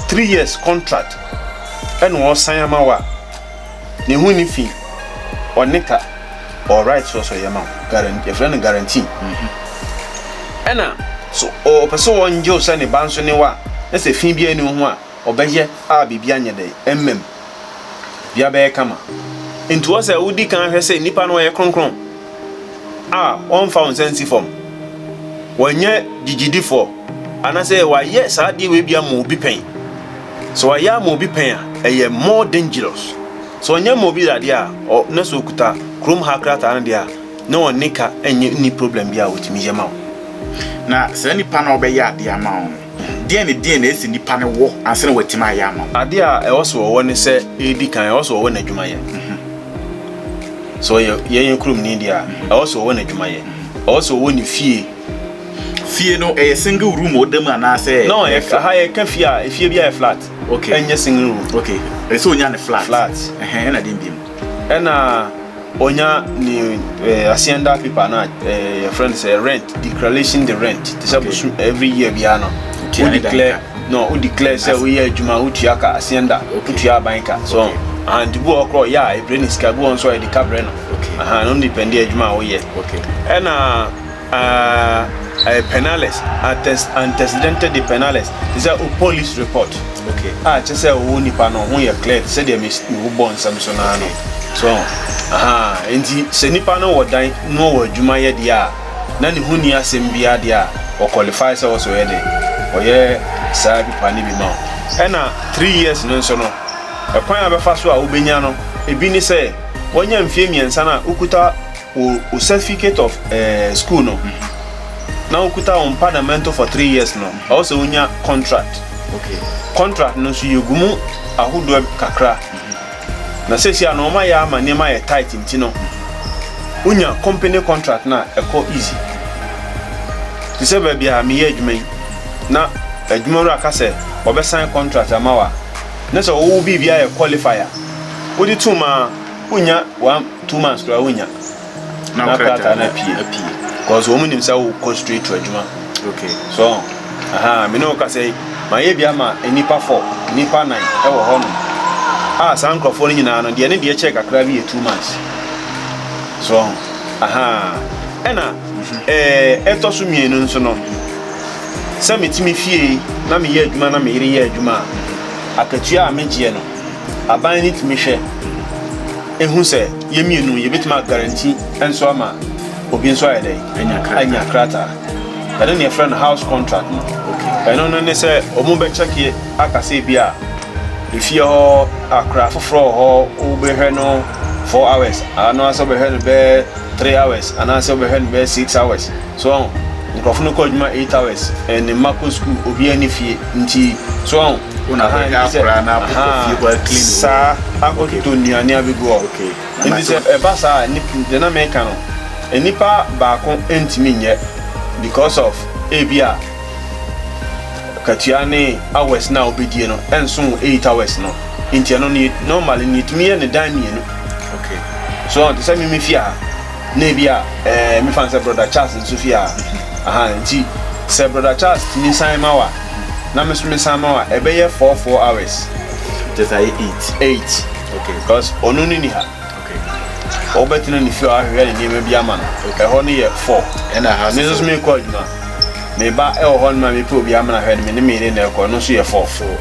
three years contract ɛna ɔresan ama wo a, ne ho nni fi, ɔne ka, ɔwɔ right sɛ ɔsɔ yɛ ma wo, guarantee, yɛfrɛ no guarantee. Ɛna sɛ ɔpɛ sɛ ɔngye wo sɛ ne ba nso ne wo a, na sɛ fi biara nni wo ho a, ɔbɛyɛ a biribi anyɛ dɛn? Mmam. Biribiara bɛyɛ kama. Enti wɔ sɛ wodi kan hwɛ sɛ nnipa no wɔyɛ kronkron a wɔmfa wɔn nsa nsi fam, wɔnyɛ gyigyidifoɔ, anaasɛ wɔayɛ saa adeɛ wei bi ama obi pɛn. Sɛ wɔayɛ ama obi pɛn a, ɛyɛ more dangerous. Sɛ wɔnyɛ ama obi dadeɛ a, ɔ, na sɛ ɔkuta kurom ha krataa no deɛ a, na wɔne ka nyɛ nni problem bi a wɔtumi yɛ ma wo. Na saa nipa no a ɔbɛyɛ adeɛ ama wo no, Deɛn ne deɛn na ɛsɛ nipa no wɔ ansa na watumi ayɛ ama wo? Adeɛ a ɛwɔ sɛ ɔwɔ ne sɛ, ɛdi kan, ɛwɔ sɛ ɔwɔ n'adwumayɛ. Sɛ ɔyɛ yɛn kuromni deɛ a, ɛwɔ sɛ ɔwɔ n'adwumayɛ. Ɛwɔ sɛ ɔwɔ ne fie. Fie no, ɛyɛ single room a ɔda mu anaasɛ? No, aha yɛka fie a, fie biara yɛ flat. Okay. Ɛnyɛ single room. Okay. Ɛsɛ sɛ ɔnya ne flat. Flat. Ɛhɛn, ɛna deɛn bio? Ɛna. Ɔnya ne eh, asienda paper na eh, yɛfrɛ no sɛ rent declaration de rent te sɛ bosom every year biara no wo declare no wo declare sɛ woyɛ adwuma wotua ka asienda wotua aban ka so okay. aha nti bi wɔ korɔ yɛ a ɛbrɛ ne sika bi wɔ nso a yɛde ka brɛ no aha no depende adwuma a woyɛ okay. ɛna a ɛyɛ penales antes antecedente de penales te sɛ o police report okay a kyɛ sɛ ɔwɔ nipa no ho yɛ clear te sɛ deɛ me me bɔ nsɛm so naa no so aha nti sɛ nipa no wɔ dan na ɔwɔ adwuma yɛ deɛ a na ne ho ni asɛm biara deɛ a ɔ qualify sɛ ɔsɔ yɛ dɛ ɔyɛ saa bipa ne bi ma o ɛna three years no nso no ɛkwan a bɛfa so a wobɛnya no ebi ne sɛ wɔnya mfie mmiɛnsa no a wokuta Wo wo certificate of eh, school no, na wokuta wo mpa na mɛnto for three years no, ɛwɔ sɛ wonya contract. Okay. Contract no nso yɛgu mu ahodoɔ kakra. Na seesei a na wɔayɛ ama nneɛma ayɛ tight nti no, wonya company contract no a, ɛkɔ easy. Te sɛ baabi a meyɛ adwuma yi, na adwumawura ka sɛ wɔbɛsan contract ama wo a, na sɛ wowɔ biribi a ɛyɛ qualify a, wode tom a, wonya w'am. two months koraa wonya na krataa no apue cause wɔn nim sɛ wokɔ straight to adwuma okay so aha me ne wo kasa yi mayɛ bi ama nnipa fɔ nnipa nan ɛwɔ hɔ nom a saa nkurɔfoɔ no nyinaa no deɛ ne deɛ kyɛɛ kakra bi yɛ two months so aha ɛna mhm. ɛɛ ɛtɔ so mmienu nso no sɛ metumi fie na meyɛ adwuma na meyere yɛ adwuma a akatua a megyeɛ no Aban no tumi hwɛ hu sɛ yɛn mmienu yɛbɛtumi a guarantee nso ama obi nso ayɛ dɛ anya krataa ɛno ne ɛfrɛ no house contract no ɛno no ne sɛ ɔmo bɛkyɛke aka sɛ bi a efie hɔ akora foforɔ wɔ hɔ wobɛhwɛ no four hours anaasɛ wobɛhwɛ no bɛɛ three hours anaasɛ wobɛhwɛ no bɛɛ six hours So wɔn nkurɔfo no kɔ adwuma eight hours and ne mma kɔ school obiara ne fie nti so wɔn aha nti sɛ aha saa akɔtotɔ nnuane abɛgu hɔ nti sɛ ɛba saa deɛ na meka no nnipa baako ntumi nyɛ because of ebi a katua ne hours na wobɛdie no ɛnso wɔ eight hours no nti ɛno no normally no yɛtumi yɛ ne dan mmienu so wɔn te sɛ mimi fie ha Na ebia eh, mefa no sɛ Brɔda Charles nso fie ha. Ahaa, nti sɛ Brɔda Charles tumi san ma wo a, na me nso mesan ma wo a, ɛbɛyɛ four, four hours. Kyerɛ sɛ ayɛ eight. Eight. Okay. Because ɔno no nni ha. Okay. Wobɛtena ne fie a wahwehwɛ ne nneɛma bi ama no. Okay. Ɛhɔ no yɛ four. Ɛna ha Me nso so mekɔ adwuma. Meba ɛwɔ hɔ no ma mepɛ obi ama no ahwɛ no, me ne me yere na ɛkɔ, ɛno nso yɛ four. Four.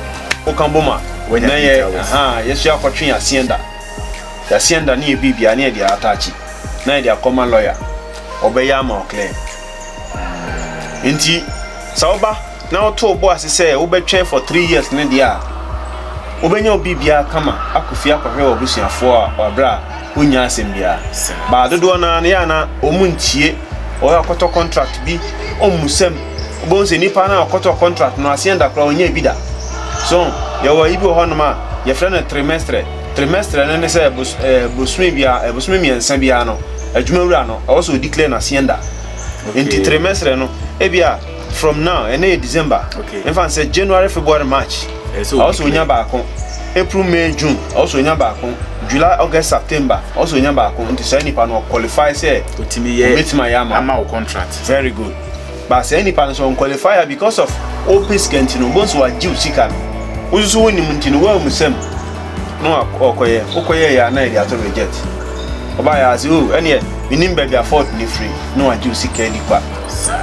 Woka bom a, Wanya na yɛ, details. ahaa, yɛso yɛakɔtwe yɛn aseɛda. Yɛaseɛ nda ne yɛbie biaa ne yɛde aataakye na yɛde akɔma lɔya ɔbɛyɛ ama wo claim nti sɛ woba na woto wobo ase sɛ wobɛtwɛn for three years ne deɛ a wobɛnya wo biribiaa kama akɔ fie akɔhwɛ w'abusuafoɔ a wabrɛ a wonnya asɛm biaa baa dodoɔ no ara no yɛ a na wɔn ntie wɔyɛ ɔkɔtɔ contract bi ɔmmusam wobɛhu sɛ nipa no a ɔkɔtɔ contract no aseɛ nda koraa ɔnyɛ bi da so yɛwɔ yi bi wɔ hɔnom a yɛfrɛ no trimestre Trimestre no ne sɛ bos ɛɛ bosome biara ɛɛ bosome mmiɛnsa biara no adwumawura no ɛwɔ sɛ ɔdeclare no hacienda. Nti Okay. trimestre no ebia from now ɛnɛ yɛ December Okay. mfa no sɛ January, February, March Ɛyɛ sɛ ɛwɔ sɛ ɔnya ɔdeclare. baako April, May, June ɛwɔ sɛ ɔnya baako July, August, September ɛwɔ sɛ ɔnya baako nti saa nipa no ɔqualify sɛ Ɔtumi yɛ ɔbɛtumi ayɛ ama wo. ama wo contract. Very good. But saa nipa no so ɔn qualify a because of ɔpɛ sika nti no ɔbɛhu sɛ wagye wo sika no wo nso so wonim nti no woammu sɛm na ɔkɔyɛ wokɔyɛ yɛ a na yɛde ato reject ɔbaa yɛ ase oh ɛneɛ menim baabi a fault no firi na wagye wo sika adi kwa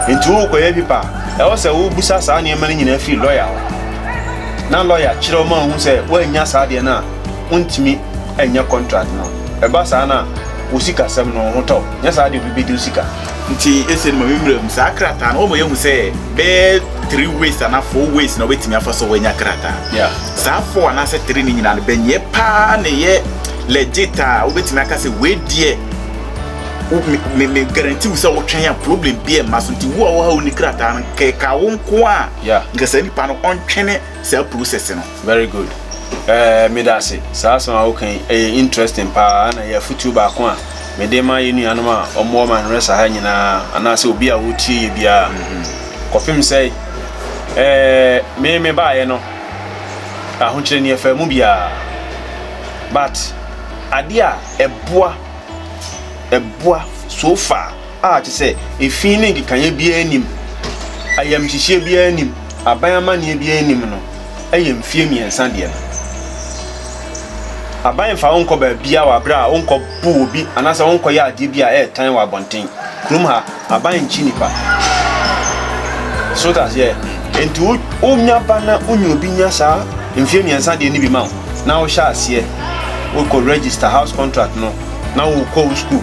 nti wokɔyɛ pipa a ɛwɔ sɛ wobusa saa nneɛma no nyinaa firi lawyer hɔ na lawyer kyerɛ ɔma wohu sɛ woannya saa deɛ no a wontumi ɛnyɛ contract no ɛba saa no a wo sikasɛm no wo ho tɔ nyɛ saa deɛ obi bɛdi wo sika Nti ese no ma me mmram saa krataa no wɔma yɛhu sɛ bɛyɛ three ways anaa four ways na wobɛtumi afa so wanya krataa. Yeah. Saa four anaasɛ three no nyinaa no bɛnyɛ paa na ɛyɛ legit a wobɛtumi aka sɛ wei deɛ wo- me- me me guarantee wo sɛ wotwɛn a problem bi ɛmma so nti wo a woha wo ni krataa no kɛka wo nko a Yeah. nka saa nipa no ɔntwene saa process no. Very good eh, meda ase. Saa asɛm a woka yi, ɛyɛ interesting paa na ɛyɛ afotuo baako a mede ma yɛn nuanom a wɔwɔ Manresa ha nyinaa anaasɛ obi a wotie yɛ biara. Mhm. Kɔpem sɛ eh, me me baeɛ no, ahokyerɛ ni ɛfaa mu biara. But adeɛ a ɛboa, ɛboa so far a te sɛ efi ne nkekaeɛ biara nnim, ayamhyehyeɛ biara nnim, aban amanneɛ biara nnim no yɛ mfeɛ mmiɛnsa deɛ no. Aban mfa wo nkɔ baabiara wɔ aberɛ a wonkɔ boo obi anaasɛ wonkɔ yɛ adeɛ bi a ɛyɛ tan wɔ abɔnten. Kurom ha, aban nkyi nnipa. So wote aseɛ? Nti wo, wonya ba na wonye obi nya saa mfeɛ mmiɛnsa deɛ no bi ma wo, na wohyɛ aseɛ wokɔ register house contract no, na wokɔ wo sukuu.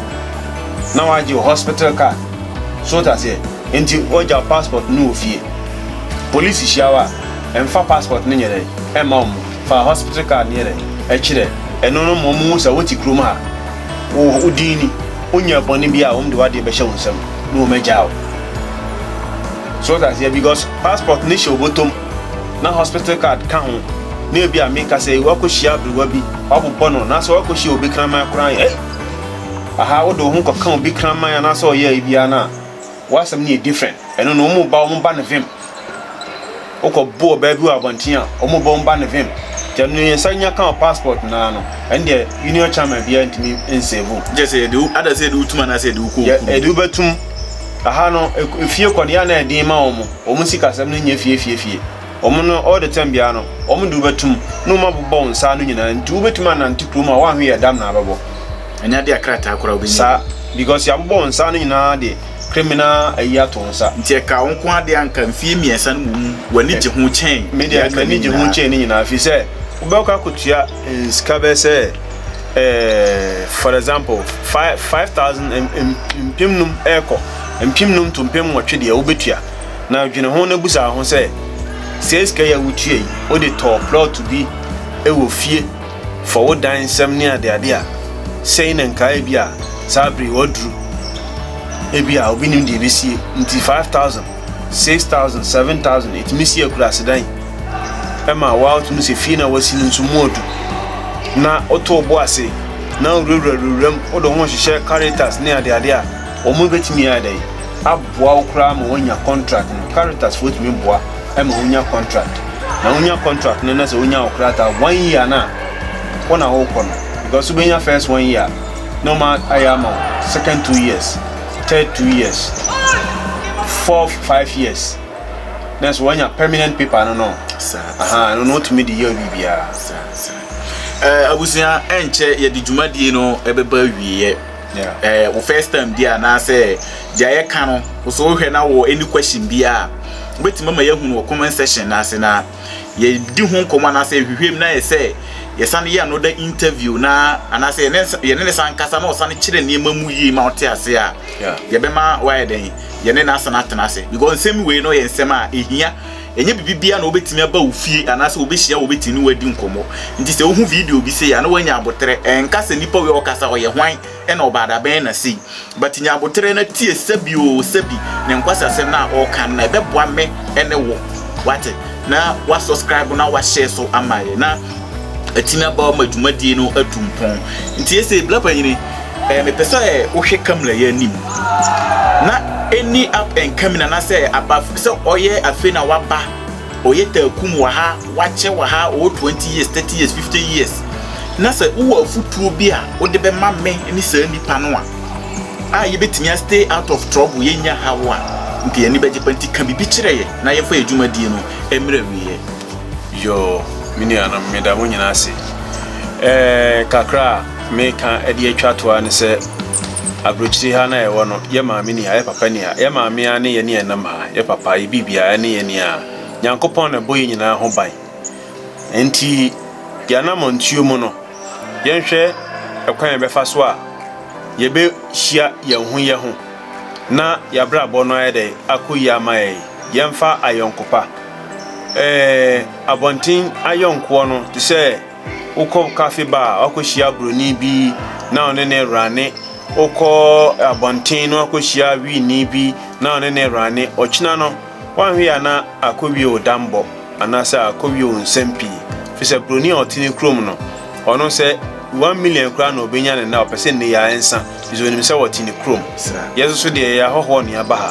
Na w'agye wo hospital card so wote aseɛ nti w'agya wo passport no wɔ fie police hyia wo a ɛnfa passport no nyɛ dɛn ɛmma ɔmo fa hospital card no yɛ dɛn ɛkyerɛ ɛno no ma ɔmo hu sɛ wote kurom ha wo wo din ni wonyɛɛ bɔne biaa a ɔmo de w'adeɛ bɛhyɛ wo nsam na ɔmo agyaa wo so wote aseɛ because passport no hyɛ wo bɔtɔm na hospital card ka ho na ebi a meka sɛ woakɔ hyia aberewa bi wabobɔ no na sɛ woakɔ hyia obi kraman koraa yɛ. Aha wode wo ho kɔka obi kraman anaasɛ ɔyɛe biara no a, w'asɛm no yɛ different. Ɛno no, wɔn ba wɔn ba no vim. Wokɔbo ɔbaa bi wɔ abɔnten a, wɔn ba wɔn ba no vim. Nti ɛno no, yɛn nsa nya ka wɔ passport no ara no, ɛno deɛ union chairman biara ntumi nsave wo. Kyerɛ sɛ yɛde wo, adɛn sɛ yɛde wo tum anaasɛ yɛde wo kɔ okurom? Yɛde wo bɛtum. Aha no, efie kɔ no, yɛ a na ɛyɛ den ma wɔn. Wɔn sikasɛm no nyɛ fie fie fie. wɔn no all the time biara no wɔn de wobɛtum na wɔn abobɔ wɔn nsa ano nyinaa nti wobɛtum anante kurom a wɔanhwe yɛ dam na abɛbɔ ɛnyɛ adeɛ a krataa koraa wobɛnya saa because yɛabobɔ wɔn nsa ano nyinaa de criminal ayi ato wɔn nsa nti ɛka wɔn nko adeɛ anka mfie mmiɛnsa no mu w'ani gye ho kyɛn media m'ani gye ho kyɛn ne nyinaa firi sɛ wobɛkɔ akɔtua nsika bɛɛ sɛ eh, for example five thousand mpem num ɛkɔ mpem num to mpem nwɔtwe deɛ wobɛtua Na dwene ho na bisa wo ho sɛ, 'Saa sika yi a wutua yi, wode tɔɔ plɔt bi wɔ fie, fɔ wo dan nsɛm ne adeade a, sɛn na nka ebia saa bere yi waduru? Ebia obi nnim deɛ ebesie nti, five thousand, six thousand, seven thousand, etumi si akuraase dan. Ɛma wotumi sɛ fie no a woasi no nso mu adu. Na woto wo bo ase, na wurawura wuram, wode wo ho hyehyɛ Caritas ne adeade a. Wɔbɛtumi ayɛ dɛn aboa wo koraa ma woanya kɔntrat no? Caritasfoɔ tumi boa ma wonya kɔntrat, na wonya kɔntrat no na sɛ wonya wo krataa one year no a, wo na wokɔ no because wobɛnya first one year na wɔn ayɛ ama wo second two years, third two years, fourth five years na sɛ woanya permanent paper no no aha ɛno no wotumi de yɛ wo biribiara. Abusua, ɛnkyɛ yɛde dwumadie no ɛbɛba awieɛ. Yeah. Eh, wo first time bi anaasɛ deɛ yɛka no so wohwɛ na wɔ any question bi a wobɛtumi ama yɛahunu wɔ comment section no ase na yɛdi ho nkɔmmɔ anaasɛ yɛhwehwɛm na yɛ sɛ yɛsane yɛ another interview na anaasɛ yɛne ne san kasa na ɔsane kyerɛ nneɛma mu yie ma wote ase a yɛbɛma wayɛ dɛn yɛne no asane atena ase because nsɛm wei no yɛ nsɛm a ɛhia Ɛnyɛ biribiara na wobɛtumi aba wo fie anaasɛ wobɛhyia wobɛtumi ne woadi nkɔmmɔ. Nti sɛ wohu video bi sei a na woanya aboterɛ. Ɛnka sɛ nipa wei a ɔkasa ɔyɛ hwan na ɔbaada bɛn na sei. But nya aboterɛ na tie sɛbi o sɛbi ne nkwasasɛm no a ɔreka no na ɛbɛboa me ne wo wate. Na wa subscribe na wa share so ama yɛ na atumi aboa ma dwumadie no atu mpɔn. Nti ɛsei Bla Panyini. Eh, mepɛ sɛ wohwɛ Kamila yɛ anim na ɛni up and coming anaasɛ aba sɛ ɔyɛ afei na waba ɔyɛ taakum wɔ ha wakyɛ wɔ ha ɔwɔ 20 years 30 years 50 years na sɛ wowɔ afotuo bi a wode bɛma me ne saa nnipa no a a yɛbɛtumi a stay out of trouble yɛnya haw a nka yɛn ani bɛgye pa nti ka biribi kyerɛ yɛ na yɛmfa yɛ dwumadie no mmerɛ wieɛ. Yoo me nuanom meda mo nyinaa ase. Ɛɛ kakra a meka de atwa toa ne sɛ aburokyiri ha na ɛwɔ no yɛ maame ni a yɛ papa ni a yɛ maame a ne yɛ ne ɛnam ha yɛ papa yɛ biribia ɛne yɛ ni a Nyankopɔn na ɛbɔ yɛ nyinaa ho ban. Nti yɛ anamɔntuo mu no yɛnhwɛ ɛkwan a yɛbɛfa so a yɛbɛhyia yɛn ho yɛ ho na yɛ abrabɔ no ayɛ dɛ akɔ yie ama yɛn. Yɛmfa ayɔnkopa Ɛɛ, abɔnten ayɔnkoɔ no te sɛ wokɔ kafe ba a wakɔhyia buroni bi na ɔne ne rane. Wokɔ abɔnten na wakɔhyia wiini bi na ɔne ne rane. Ɔkyena no, woanhwɛ yɛ a na akɔwie wo dammɔ anaasɛ akɔwie wo nsɛm pii, ɛfiri sɛ buroni a ɔte ne kurom no, Ɔno sɛ one million koraa na ɔbɛnya no na ɔpɛ sɛ nnɛ yi ara nsa firi sɛ ɔnim sɛ wɔte ne kurom. Yɛn nso so deɛ yɛyɛ ahɔhoɔ na yɛaba ha.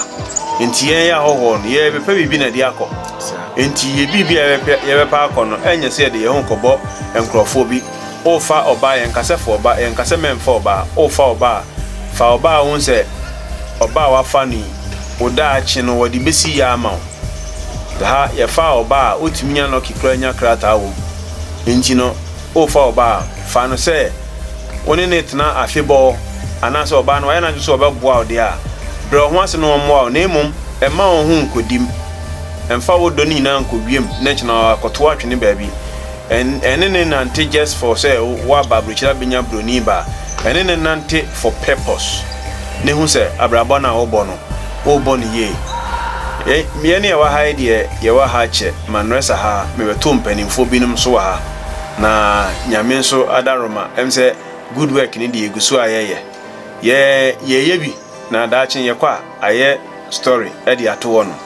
Nti yɛn yɛ ahɔhoɔ no yɛbɛpɛ biribi na ɛde akɔ. Nti yɛ biribi a yɛbɛpɛ akɔ no ɛnyɛ sɛ yɛde yɛn ho rekɔbɔ nkorɔfoɔ bi. Worefa ɔbaa yɛnka sɛ fa ɔbaa yɛnka sɛ mɛmfa ɔbaa. Worefa ɔbaa a fa ɔbaa a wohu sɛ ɔbaa a woafa no yi wo daakye no wɔde bɛsi yɛ ama wo. Ha yɛfa ɔbaa a wotumi nya lucky koraa nya krataa wɔ mu. Enti no, worefa ɔbaa a, fa no sɛ wo ne no tena afebɔɔ, anaasɛ ɔbaa no wayɛ n'adwene sɛ ɔbɛboa wo deɛ a, brɛ wo ho ase na ɔmmoa wo, na mmom mma wo ho nkɔdim. Mfa wo dɔ no nyinaa nkɔ wiem na kyena ara kɔtow atwene baabi. Ɛne no nnante just for sɛ woaba aburokyire abɛnya buroni ba, ɛne no nnante for purpose, na hu sɛ abrabɔ no a wobɔ no, worebɔ no yie. Yɛn mmienu a yɛwɔ ha yi deɛ, yɛwɔ ha kyɛ, Manresa ha, mebɛtoo mpanimfoɔ binom nso wɔ ha, na Nyame nso adaaroma, ɛm sɛ good work no deɛ yɛgu so a yɛyɛ. Yɛ, yɛyɛ bi, na daakye yɛkɔ a, ayɛ story de ato hɔ nom.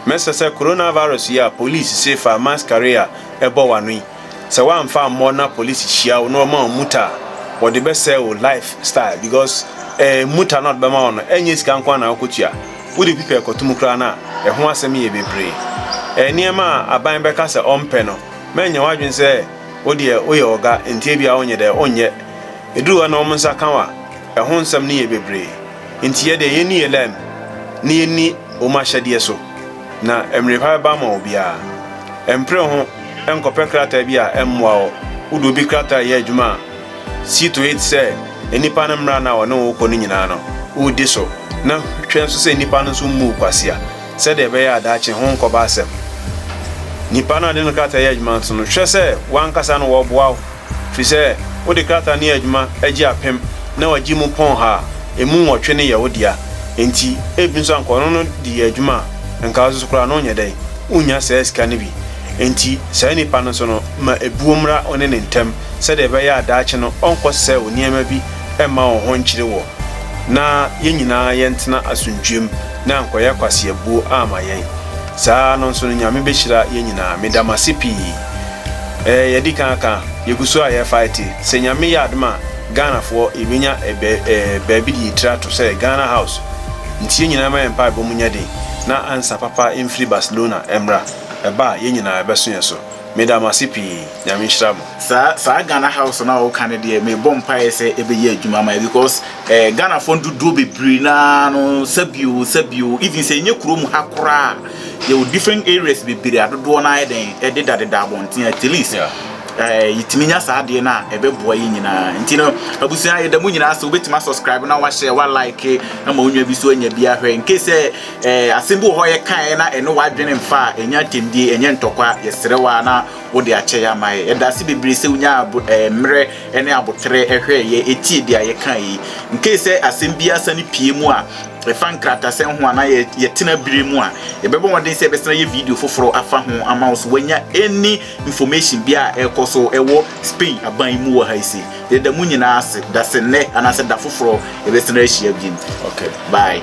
Mɛsrɛ sɛ Coronavirus yi a Police se fa mask kari a ɛbɔ w'ano yi, Sɛ woamfa ammɔ na police hyia wo na wɔma wo muta a, wɔde bɛsɛe wo life style because eh muta no a wɔde bɛma wo no ɛnyɛ sika nko ara na wokotua. Wode pipa ɛkɔto mu koraa no a, ɛho asɛm yɛ bebree. Eh nneɛma a aban bɛka sɛ ɔmpɛ no, mɛnyɛ w'adwene sɛ wo deɛ woyɛ ɔga nti ebia wonyɛ dɛ wonyɛ. Ɛduru hɔ na wɔn nsa ka wo a, ɛho nsɛm no yɛ bebree. Nti yɛ deɛ yɛnni yɛ lɛm na yɛnni wɔn ahyɛdeɛ so. Na mmere pa bɛba ama obiara. Mpere ho nkɔpɛ krataa bi a ɛmmoa wo. Wode obi krataa reyɛ adwuma a, see to it sɛ nnipa no mmara no a ɔne wo rekɔ no nyinaa no, wodi so, na hwɛ nso sɛ nnipa no nso mmu wo kwasea sɛdeɛ ɛbɛyɛ a daakye ho renkɔba asɛm. Nipa no a wode no krataa reyɛ adwuma nso no, hwɛ sɛ w'ankasa no wɔboa wo. Fi sɛ wode krataa ne adwuma agye apem na wagye mu pɔnha a, emu nwɔtwe no yɛ wo dea. Enti ebi nso anka ɔno no de yɛ adwuma a, nka wo nso koraa no wonyɛ dɛn? Wunnya saa sika no bi. Enti saa nipa no nso no, ma ebuo mmra wo ne ne ntam sɛdeɛ ɛbɛyɛ a daakye no ɔnkɔsɛe wo nneɛma bi mma wo ho nkyere woɔ, na yɛn nyinaa yɛntena asomdwoem na ankɔyɛ kwaseabuo amma yɛn. Saa ara no nso no Nyame bɛhyira yɛn nyinaa. Meda mo ase pii. Ɛɛ yɛdi kan aka yegu so a yɛ fae te sɛ nyame yɛ adom a Ghana foɔ yɛ bɛnya ɛbɛ ɛɛ baabi de yɛ tiri ato sɛ Ghana house nti yɛ nyinaa ma yɛ mpae bɔ mu nyɛ den na ansa papa mfiri Barcelona ɛmmra ɛba a yɛ nyinaa ɛbɛso yɛ so meda mo ase pii nyame nhyira mo. Saa saa Ghana house no a woka no deɛ me bɔ mpaeɛ sɛ ɛbɛyɛ adwuma ama yɛ because ɛɛ Ghana foɔ no dodoɔ bebree no ara no sɛbio sɛbio even sɛ ɛnyɛ kuro mu ha koraa a Yɛwɔ different areas bebree a dodoɔ no ara yɛ dɛn ɛdeda deda abɔnten at least ɛɛ yɛtumi nya saa adeɛ no a ɛbɛboa yɛ nyinaa nti no abusua yɛda mo nyinaa sɛ wobɛtumi asubscribe na wahyɛ wa like ama wo nwa bi so anya bi ahwɛ nke sɛ ɛɛ asɛm bi wɔ hɔ yɛkaeɛ na ɛne w'adwene mfa a ɛnyɛ atɛmdie ɛnyɛ ntɔkwa yɛsrɛ wa na wode akyɛ yɛ ama yɛ yɛda ase bebree sɛ wonya ɛɛ mmerɛ ne aboterɛ hwɛɛ yɛ tie deɛ yɛka yi. Nkei sɛ asɛm biara sane pie mu a ɛfa nkratasɛm ho anaa yɛ yɛtena bire mu a, yɛbɛbɔ mmɔden sɛ yɛbɛsan yɛ video foforɔ afa ho ama wo so wanya any information biara a ɛrekɔ so ɛwɔ Spain aban yi mu wɔ ha yi se. Yɛda mo nyinaa ase. Da se nnɛ anaasɛ da foforɔ yɛbɛsan ahyia biom. Okay, bye.